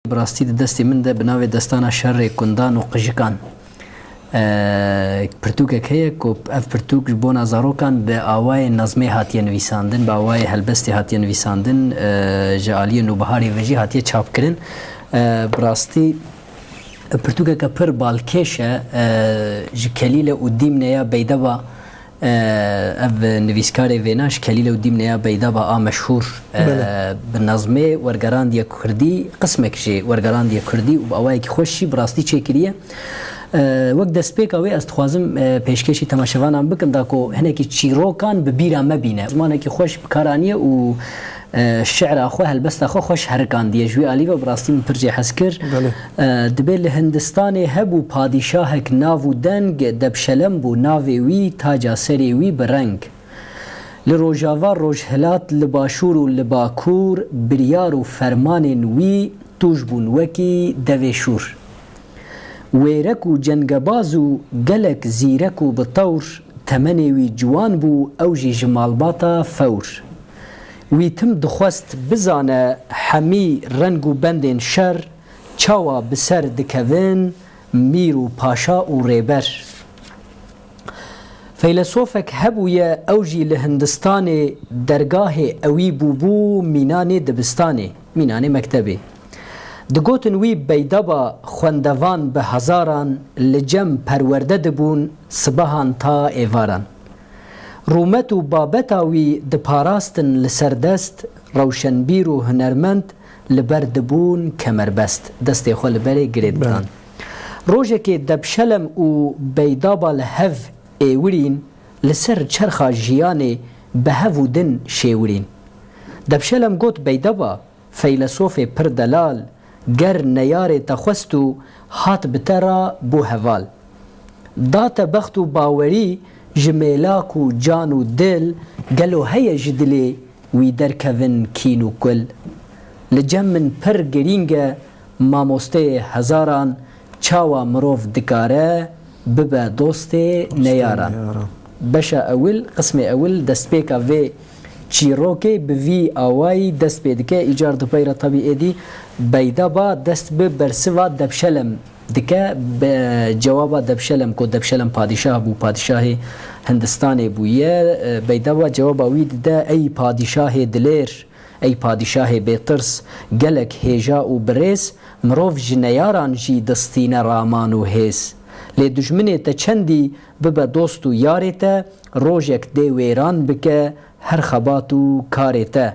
Bi rastî di destê min de bi navê Destana Şerê Kundan û Qijikan pirtûkek heye ku ev pirtûk ji bona zarokan bi awayê nazmê hatiye nivîsandin, bi awayê helbestê hatiye nivîsandin, ji aliyê Nûbiharê ve jî hatiye çapkirin. Bi rastî pirtûkeke pir balkêş e ji Kelîle û Dîmne ya Beydeba Ev nivîskarê vêna ji Kelîl û Dîmneya Beydaba a meşhûr bi nazmê Wergerandiye Kurdî qismek jî wergerandiye Kurdî û bi awayekî xweş jî bi rastî çêkiriye. Wek destpêka wê ez dixwazim pêşkêşî temaşevanan bikim da ku hinekî çîrokan bi bîra me bîne. Zimanekî xweş bi kar aniye û Şîra xwe, helbesta xwe xweş herikandiye. Ji wî alî ve bi rastî min pir jê hez kir. Dibê li Hindistanê hebû padîşahek nav û deng Debşelem bû, navê wî, taca serê wî bi reng. Li rojava, rojhilat, li başûr û li bakur biryar û fermanên wî tûj bûn wekî devê şûr. Wêrek û cengebaz û gelek zîrek û bi tewr, temenê wî ciwan bû ew jî ji malbata fewr. Wî tim dixwest bizane hemî reng û bendên şer çawa bi ser dikevin, mîr û paşa û rêber. Feylesofek hebûye ew jî li Hindistanê dergahê ewî bûbû mînanê dibistanê, mînanê mektebê. Digotin wî beydaba xwendevan bi hezaran li cem perwerde dibûn sibehan ta êvaran. Rûmet û babeta wî diparastin li ser dest, rewşenbîr û hunermend li ber dibûn kemerbest, destê xwe li berê girê didan. Rojekê Debşelem û Beydaba li hev êwirîn, li ser çerxa jiyanê bi hev û din şêwirîn. Debşelem got Beydaba. Feylesofê pir delal, ger neyarê te xwest û hat bi te ra bû heval. Da te bext û bawerî ji mêlak û can û dil, gelo heye ji dilê wî derkevin kîn û kul? Li cem min pir girîng e mamosteyê hezaran Çawa mirov dikare bibe dostê neyaran? Beşa ewil, qismê ewil destpêka vê çîrokê bi vî awayî dest pê dike, Îcar Dupeyra Tabî êdî beyda ba dest bi bersiva Debşelem dike, bi cewaba Debşelem ku Debşelem padîşah bû, padîşahê Hindistanê bûye, beyda ba cewaba wî dide, Ey padîşahê dilir! Ey padîşahê bêtirs, gelek hêja û birêz, mirov ji neyaran jî distîne raman û hêz. Lê dijminê te çendî bibe dost û yarê te, rojek dê wêran bike her xebat û karê te.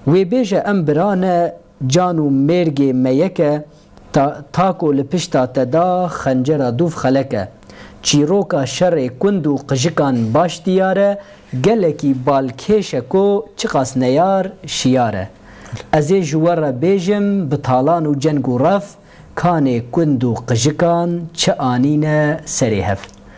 Wê bêje em bira ne, can û mêrgê me yek e, Ta ta ku li pişta te da xencera dûv xelek e. Çîroka şerê kund û qijikan baş diyar e, gelekî balkêş e ku çiqas neyar, şiyar e. Ez ê ji we re bêjim bi talan û ceng û rev, kanê kund û qijikan çi anîne serê hev.